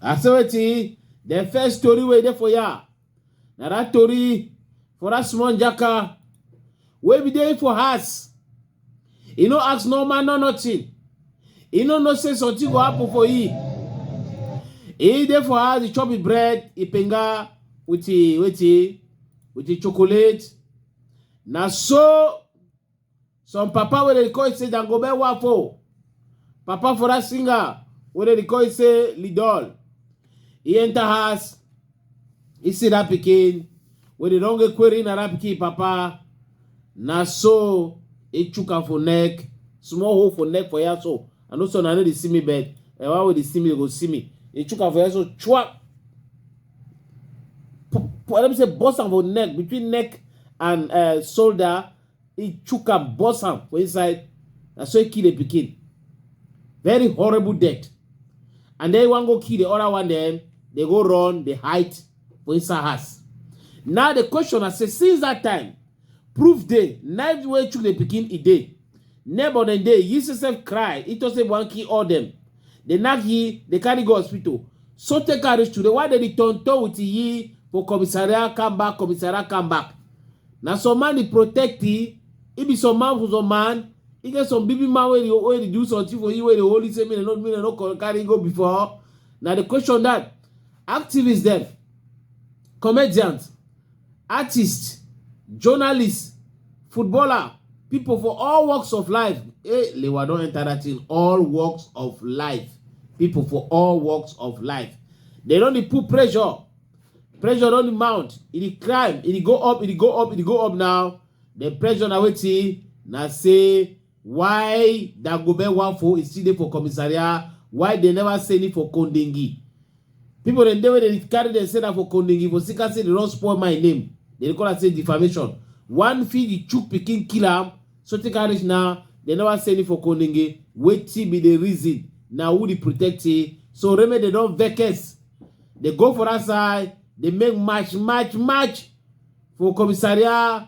I say wetin the first story wey dey for ya na that story for that small jaka wey be dey for house e no ask no man no nothing e no know say something go happen for e e dey for house e chop e bread e penga with e wetin with e chocolate na so some papa wey dey call say dangobe wafo papa for that singer wey dey call say lidol e enter house e see that pikin wey dey don get query na that pikin papa na so e chook am for neck small hole for neck for here so i know so una no dey see me but the one wey dey see me dey go see me e chook am for here so chua let me say burst am for neck between neck and uh, shoulder he chook am burst am for inside na so he kill the pikin very horrible death and then one go kill the other one then they go run the height for inside house now the question i say since that time proof day knife wey chook the pikin e day neighbor dem dey use himself cry he just say one kill all them Dey nack yi, dey carry go hospital so tey ka reach today why dey di tonton with yi for commissariat come back commissariat come back na some man di protect yi e be some man for some man e get some big big man wey dey wey dey do something for yi wey dey hold yi say make dem no make dem no co- carry yi go before na di question dat activist dem comedians artists, journalists, footballer, people for all walks of life. Hey, eh, Lewa don enter that in all walks of life. People for all walks of life. They don dey put pressure. Pressure don dey mount. E dey climb, e dey go up, e dey go up, e dey go up now. The pressure na wetin na say Why Dagobe one for is still dey for commissariat? Why they never send it for Kondingi? People dem dey wey dey carry dem say na for Kondingi for Sika say they don spoil my name. They dey call am say defamation. One fit the chook pikin kill am so take am reach now. They never send it for Kondingi. Wetin be the reason? Na who dey protect it? So remedy they don vex. They go for that side. They make match, match, match for commissariat.